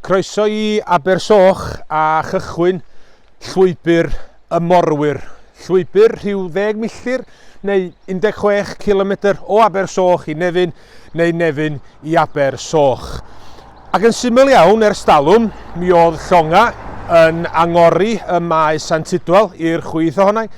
Croeso i Abersoch a chychwyn Llwybr y Morwyr. Llwybr rhyw ddeg milltir neu 16 kilometr o Abersoch i Nefyn neu Nefyn i Abersoch. Ac yn syml iawn ers dalwm, mi oedd llonga yn angori y Maes Sant Tudwal i'r chwith ohonai,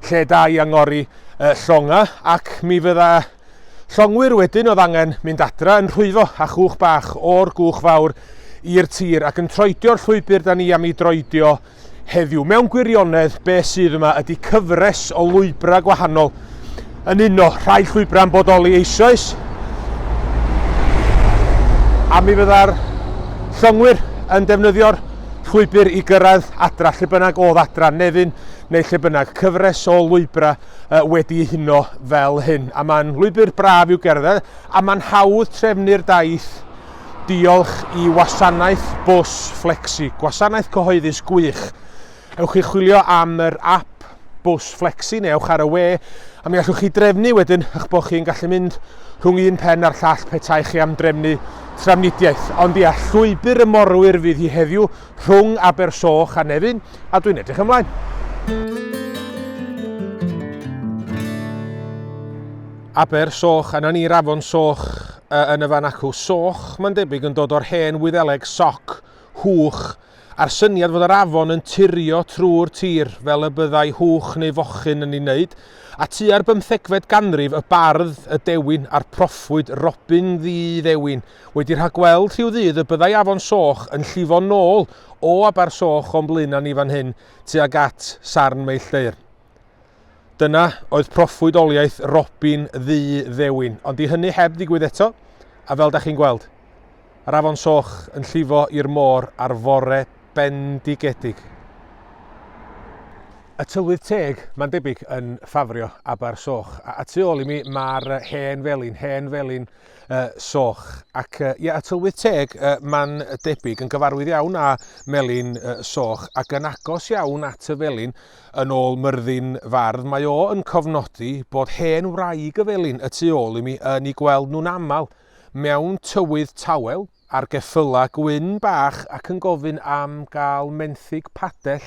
lle da i angori llonga, ac mi fydda Llongwyr wedyn oedd angen mynd adra yn rhwyfo a chwch bach o'r gwch fawr i'r tir ac yn troedio'r llwybr da ni am ei droedio heddiw. Mewn gwirionedd, be sydd yma ydy cyfres o lwybrau gwahanol yn uno rhai llwybrau yn bodoli eisoes a mi fydda'r llongwyr yn defnyddio'r llwybr i gyrraedd adra, lle bynnag oedd adra, nefyn neu lle bynnag, cyfres o lwybrau uh, wedi ei huno fel hyn. A mae'n lwybr braf i'w gerdded, a mae'n hawdd trefnu'r daith diolch i wasanaeth bws Flexi, gwasanaeth cyhoeddus gwych. Ewch chi chwilio am yr app bws flexi neu ewch ar y we a mi allwch chi drefnu wedyn eich bod chi'n gallu mynd rhwng un pen a'r llall petai chi am drefnu tramnidiaeth. Ond ia, llwybr y morwyr fydd hi heddiw, rhwng Abersoch a Nefyn a dwi'n edrych ymlaen. Aber Soch, a na ni'r afon Soch uh, yn y fan acw. Soch, mae'n debyg, yn dod o'r hen wyddeleg soc, hwch, a'r syniad fod yr afon yn turio trwy'r tir fel y byddai hwch neu fochyn yn ei wneud, a tua'r bymthegfed ganrif y bardd, y dewin a'r proffwyd Robin Ddi Ddewin Wedi rhagweld rhyw ddydd y byddai afon Soch yn llifo'n nôl o Aber Soch o'n blaena ni fan hyn tuag at Sarn Meilldeyrn. Dyna oedd proffwydoliaeth Robin Ddu Ddewin, ond 'di hynny heb ddigwydd eto, a fel da chi'n gweld, yr afon Soch yn llifo i'r môr ar fore bendigedig. Y Tylwyth Teg, mae'n debyg, yn ffafrio Aber Soch. A, a tu ôl i mi, mae'r hen felin, hen felin uh, soch. Ac uh, ie, a tylwyth teg, uh, mae'n debyg, yn gyfarwydd iawn â melin uh, soch ac yn agos iawn at y felin yn ôl myrddin fardd. Mae o yn cofnodi bod hen wraig y felin y tu ôl i mi yn ei gweld nhw'n aml mewn tywydd tawel, ar geffylau gwyn bach ac yn gofyn am gael menthyg padell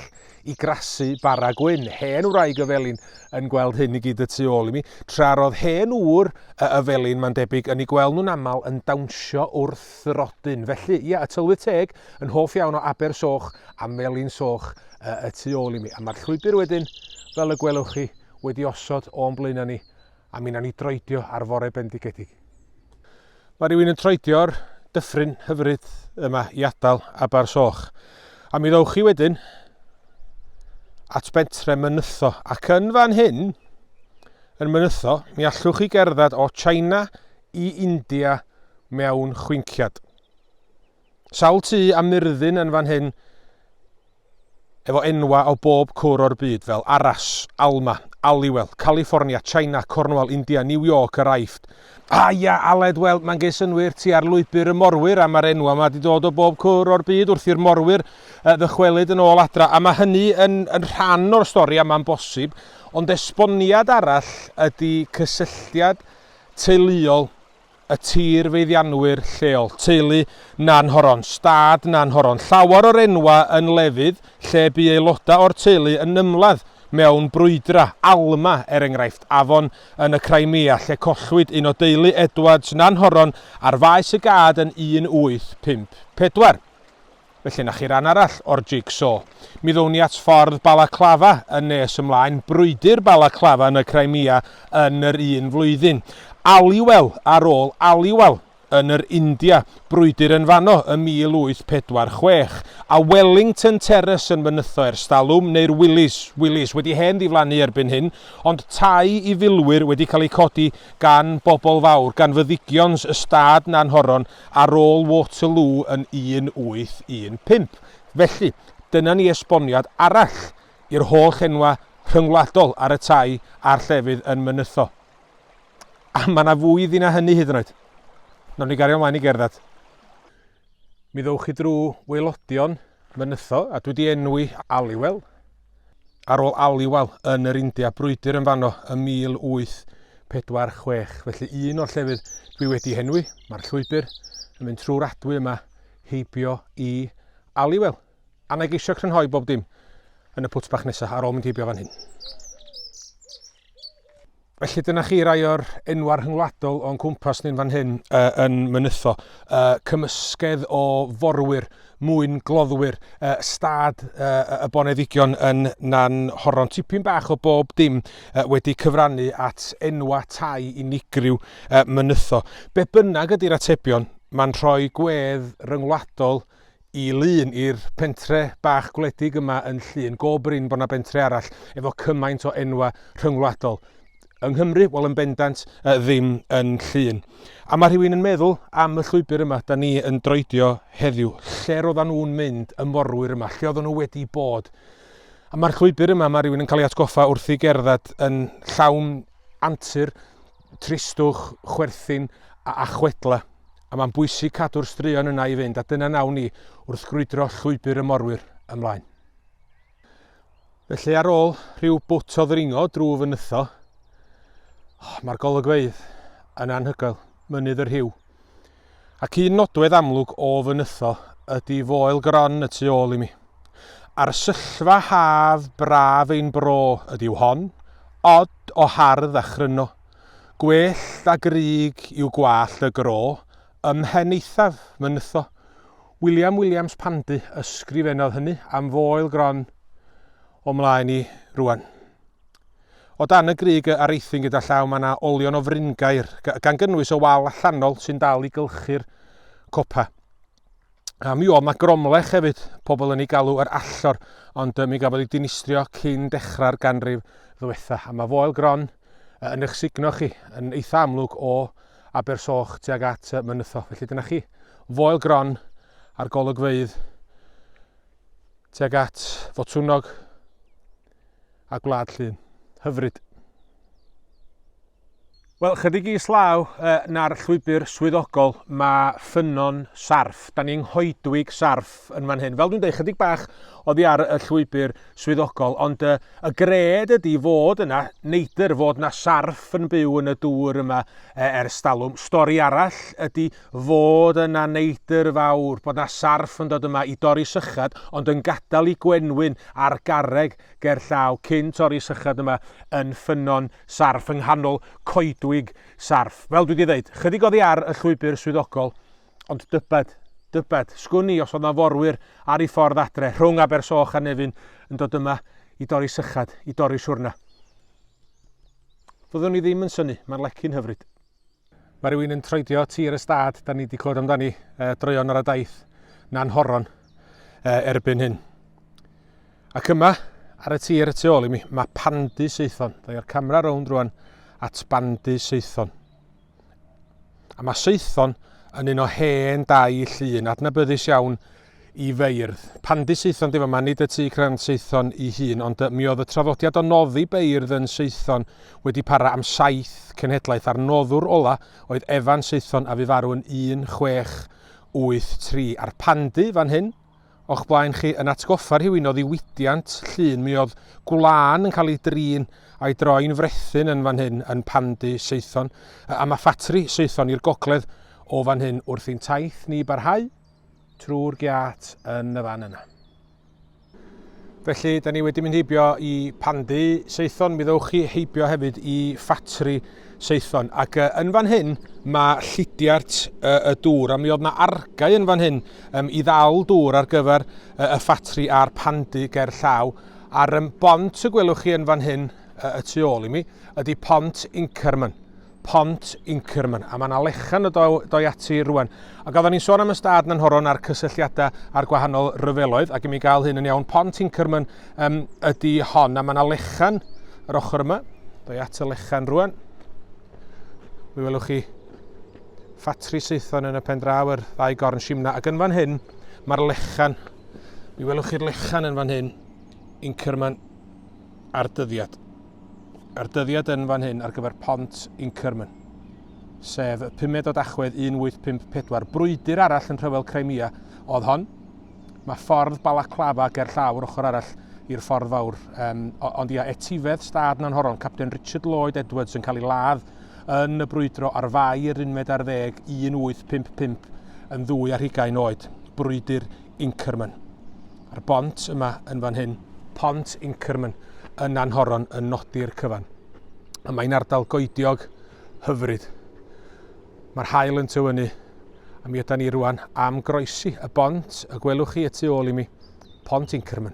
i grasu bara gwyn. Hen wraig y felin yn gweld hyn i gyd y tu ôl i mi, tra roedd hen ŵr y felin, mae'n debyg, yn ei gweld nhw'n aml yn dawnsio wrth y rodyn. Felly, ia, y tylwyth teg yn hoff iawn o Aber Soch a Melin Soch y tu ôl i mi. A mae'r llwybr wedyn, fel y gwelwch chi, wedi osod o'n blaenau ni A mi nawn ni droedio ar fore bendigedig. Mae rhywun yn troedio'r dyffryn hyfryd yma i adael Abar Soch. A mi ddowch chi wedyn at bentre Mynytho. Ac yn fan hyn, yn Mynytho, mi allwch chi gerdded o China i India mewn chwinciad. Sawl tŷ a myrddin yn fan hyn efo enwa o bob cwr o'r byd fel Arras, Alma, Aliwel, California, China, Cornwall, India, New York, yr Aifft. A ia, Aled, wel, mae'n ges synwyr ti ar lwybr y morwyr a mae'r enwa yma di dod o bob cwr o'r byd wrth i'r morwyr ddychwelyd yn ôl adra a mae hynny yn, yn rhan o'r stori a mae'n bosib, ond esboniad arall ydy cysylltiad teuluol y tir feddianwyr lleol, teulu Nanhoron, stad Nanhoron, llawer o'r enwau yn lefydd lle bu aelodau o'r teulu yn ymladd mewn brwydra, Alma, er enghraifft, afon yn y Crimea lle collwyd un o deulu Edwards, Nanhoron, ar faes y gad yn 1854. Felly 'na chi ran arall o'r jig-so. Mi ddown ni at ffordd Balaclava yn nes ymlaen, brwydr Balaclava yn y Crimea yn yr un flwyddyn, Aliwal ar ôl Aliwal yn yr India, brwydr yn fanno ym 1846, a Wellington Terrace yn fynytho erstalwm, neu'r Willys, Willys wedi hen ddiflannu erbyn hyn, ond tai i filwyr wedi cael eu codi gan bobl fawr, gan fyddigions ystâd Nanhoron ar ôl Waterloo yn 1815. Felly, dyna ni esboniad arall i'r holl enwau rhyngwladol ar y tai a'r llefydd yn Mynytho. A mae yna fwy iddi na hynny hyd yn oed. Nawn ni gario ymlaen i gerdded. Mi ddowch chi drwy waelodion Mynytho, a dwi wedi enwi Aliwel. Ar ôl Aliwal yn yr India, brwydr yn fanno ym 1846, felly un o'r llefydd dwi wedi henwi, mae'r llwybr yn mynd trwy'r adwy yma heibio i Aliwal. A na i geisio crynhoi bob dim yn y pwt bach nesaf ar ôl mynd heibio fan hyn. Felly dyna chi rai o'r enwau rhyngwladol o'n cwmpas ni'n fan hyn uh, yn mynytho. Uh, cymysgedd o forwyr, mwyn gloddwyr, uh, stad uh, y boneddigion yn nan horon. Tipyn bach o bob dim uh, wedi cyfrannu at enwa tai unigryw uh, mynytho. Be bynnag ydy'r atebion, mae'n rhoi gwedd ryngwladol i lun i'r pentre bach gwledig yma yn Llŷn. Go brin bod yna bentre arall efo cymaint o enwa rhyngwladol. Yng Nghymru, wel yn bendant, uh, ddim yn Llŷn. A mae rhywun yn meddwl am y llwybr yma, da ni yn droedio heddiw, lle roedden nhw'n mynd y morwyr yma, lle oedden nhw wedi bod. A mae'r llwybr yma, mae rhywun yn cael ei atgoffa wrth i gerdded yn llawn antur, tristwch, chwerthin a chwedlau, a mae'n bwysig cadw'r straeon yna i fynd a dyna nawn ni wrth grwydro llwybr y morwyr ymlaen. Felly ar ôl rhyw bwt o ddringo drwy fy nytho, oh, mae'r golygfeydd yn anhygoel, mynydd yr hiw, Ac un nodwedd amlwg o fy nytho ydi foel gron y tu ôl i mi. Arsyllfa haf braf ein bro ydyw hon, od o hardd a chryno. Gwellt a grug yw gwallt y gro ym mhen eithaf fy nytho. William Williams Pandy ysgrifennodd hynny am foel gron. O mlaen i rwan. O dan y grug a areithyn gyda llaw mae 'na olion o fryngaer, gan gynnwys y wal allanol sy'n dal i gylchu'r copa. A mi oedd 'na gromlech hefyd, pobl yn ei galw yr allor, ond mi gafodd ei dinistrio cyn dechrau'r ganrif ddiwetha. A mae Foel Gron yn eich sugno chi, yn eitha amlwg o Abersoch tuag at Mynytho. Felly dyna chi, Foel Gron a'r golygfeydd tuag at Fotwnog a Gwlad Llun. Hyfryd! Wel, chydig i slaw uh, na'r llwybr swyddogol, mae ffynnon sarff. Da ni'n nghoedwig sarff yn fan hyn. Fel dwi'n dweud, chydig bach oddi ar y llwybr swyddogol, ond uh, y gred ydy fod yna neidr, fod yna sarff yn byw yn y dŵr yma uh, ers talwm. Stori arall ydy fod yna neidr fawr, bod 'na sarff yn dod yma i dorri sychad ond yn gadael i gwenwyn a'r garreg ger llaw cyn torri sychad yma yn ffynnon sarff yng nghanol coedwig sarff. Fel dwi 'di ddeud, chydig oddi ar y llwybr swyddogol ond dybed, dybed, sgwn i os oedd 'na forwyr ar ei ffordd adre rhwng Abersoch a Nefyn yn dod yma i dorri sychad, i dorri siwrna. Fyddwn i ddim yn synnu, mae'r lecyn hyfryd. Mae rhywun yn troedio tir y stad, da ni wedi clywed amdani, e, droeon ar y daith na'n horon e, erbyn hyn. Ac yma, ar y tir y tu ôl i mi, mae pandy seithon. Da i'r camera rownd rwan at bandy seithon. A mae seithon yn un o hen dau llun adnabyddus iawn i feirdd. Pan dŷ Saethon di fama, nid y tŷ crand Saethon i hun, ond y, mi oedd y traddodiad o noddi beirdd yn Saethon wedi para am saith cenhedlaeth a'r noddwr ola oedd Evan Saethon a fu farw yn 1183. A'r pandy fan hyn o'ch blaen chi yn atgoffa rhywun o ddiwydiant Llŷn. Mi oedd gwlân yn cael ei drin a'i droi'n frethyn yn fan hyn yn pandy Saethon, a mae ffatri Saethon i'r gogledd o fan hyn wrth i'n taith ni barhau. trwy'r giat yn y fan yna. Felly, da ni wedi mynd heibio i Pandy Saethon, mi ddewch chi heibio hefyd i ffatri Saethon. Ac uh, yn fan hyn, mae llidiart uh, y dŵr, a mi oedd yna argau yn fan hyn um, i ddal dŵr ar gyfer uh, y ffatri a'r pandy ger llaw. A'r um, bont y gwelwch chi yn fan hyn, uh, y tu ôl i mi, ydy pont Inkerman. Pont Inkerman, a mae yna lechan o doi ati rwan. Ac oedden ni'n sôn am ystad na'n horon a'r cysylltiadau a'r gwahanol ryfeloedd, ac i mi gael hyn yn iawn, Pont Inkerman um, ydy hon, a mae yna lechan yr ochr yma, doi at y lechan rwan. Mi welwch chi ffatri saethon yn y pen draw yr ddau gorn simna. Ac yn fan hyn, mae'r lechan. Mi welwch chi'r lechan yn fan hyn, Inkerman a'r dyddiad. a'r dyddiad yn fan hyn ar gyfer Pont Inkerman, sef y pumed o Dachwedd 1854. Brwydr arall yn rhyfel Crimea oedd hon. Mae ffordd Balaclava ger llaw yr ochr arall i'r ffordd fawr. Um, ond ia, etifedd stad Nanhoron, Captain Richard Lloyd Edwards yn cael ei ladd yn y brwydro ar fai yr unfed ar ddeg 1855 yn ddwy ar hugain oed. Brwydr Inkerman. A'r bont yma yn fan hyn, pont Inkerman yn Nanhoron yn nodi'r cyfan. A mae'n ardal goediog hyfryd. Mae'r hael yn tywynu a mi ydan ni rwan am groesi y bont y gwelwch chi y tu ôl i mi, pont Inkerman.